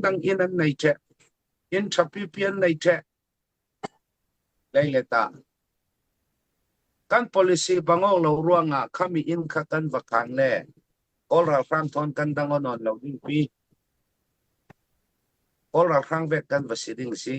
dang in an nei che in thapi pian nei che lei le ta kan policy bango lo ruanga khami in kha kan vakan le all ralhrang thon kan dang on on lo ding pi all ralhrang vek kan va si ding si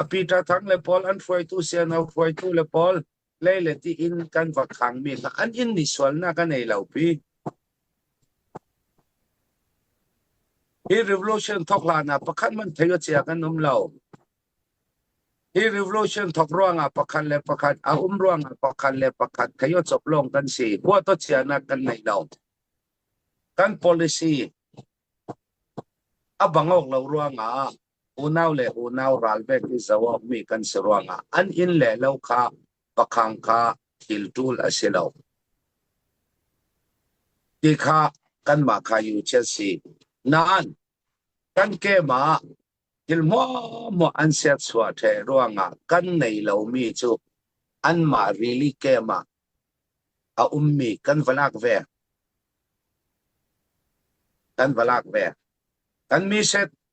api ta thang le pol an hruaitu se no hruaitu le pol leileti in kan va khangmi hlah an in ni sualnak a nei lo pi. Hi revolution thok hlan ah pakhat man thei a chia kan um lo. Hi revolution thok ruang ah pakhat le pakhat a um ruang ah pakhat le pakhat thei o chop long kan si. Hua to chianak kan nei lo. Kan policy abang ok lo ruang ah unau le unau ralvek i zoh awkmi kan si ruangah an inn le lo kha pakhang kha thil ṭul a si lo. Ti kha kanmah kha yu chia si. Nain, kan keimah thil hmuahhmuah an serchuah ṭhe ruangah kan nei lomi cu anmah rili keimah a ummi kan va lak ve. Kan va lak ve. Kan miset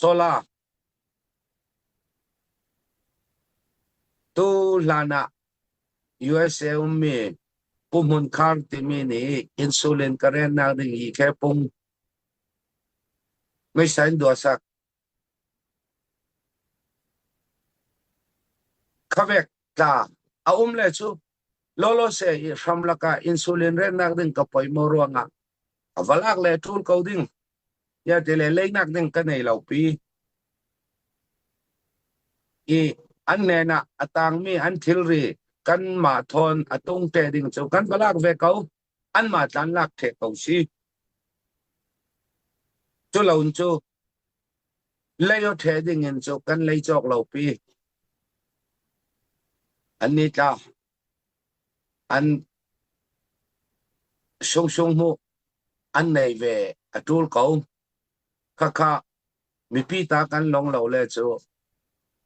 Solar Tu hlan ah USA ummi Pu Hmun Khar timi nih insulin ka rennak ding hi ke pung meisa in dua sak khavek tla a um le cu lolo se i hram lakah insulin rennak ding ka poi mo ruangah a va lak le ṭul ko ding tiah ti le leinak ding ka nei lo pi i an nen ah a tangmi an thilri kanmah thawn a tung te ding cu kan va lak ve ko anmah tlan lak the ko si cu lon cu lei o the ding in cu kan lei chok lo pi an ni tla An sungsung hmuh an nei ve a ṭul ko. Khakha mipi ta kan long lo le cu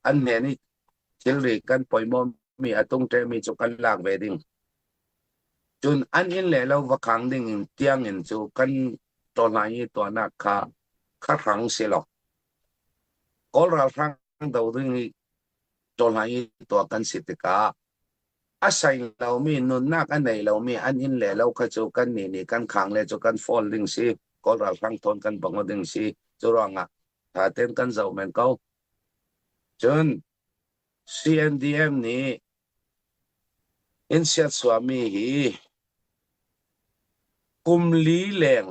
an hnen i thilri kan poimawmi a tung ṭemi cu kan lak ve ding. Cun an inn le lo va khang ding in tiangin cu kan ṭawlhlang i tuahnak kha kharhang si lo. Kawl ralhrang do ding i Cawhlai tuah kan si tikah a sei lomi nunnak a nei lomi an inn le lo kha cu kan nih nih kan khang le cu kan fawl ding si kawl ralhrang thawn kan bang ding si cu ruangah tha ten kan zoh men ko cun CNDM nih in siat suami hi kum li leng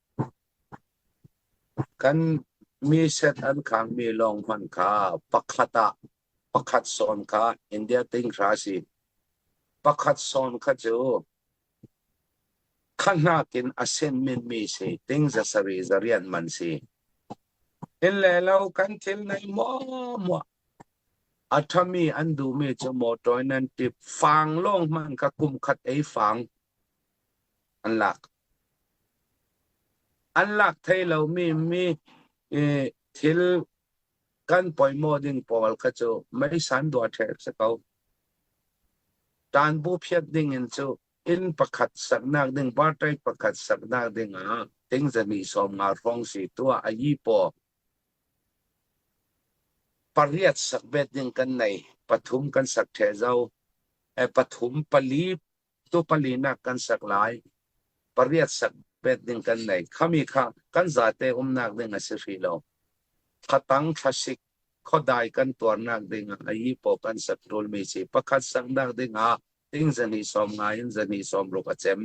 Kan miset an kangmi lawng hmanh kha pakhat ah pakhat sawn kha India tinghra a si. Pakhat sawn kha cu khanak in a senmin mi si ting za sari za rian man si. In le lo kan thil nei mua mua. A thami an duhmi cu motor nan tip fang lawng man ka kum khat ei fang. an lak. An lak thei lomi mi thil kan poimo ding pawl kha cu meisan dua ṭheh si ko. Ṭan bu phiat ding in cu inn pakhat saknak ding partai pakhat saknak ding ah tingzani sawm nga hrawng si tua a yi paw pariat sakbet ding kan nei pathum kan sak ṭhe zo e pathum pali tu pali nak kan sak lai pariat sak bet ding kan nei khami kha kan zate umnak ding a si hri lo thatang thlasik khodai kan tuarnak ding a i po kan sak tul mi si pakhat sak nak ding ah ding zani som nga in zani som ruk a chem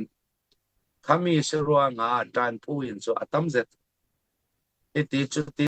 khami si ruang ah tan pu in chu atam zet iti chu ti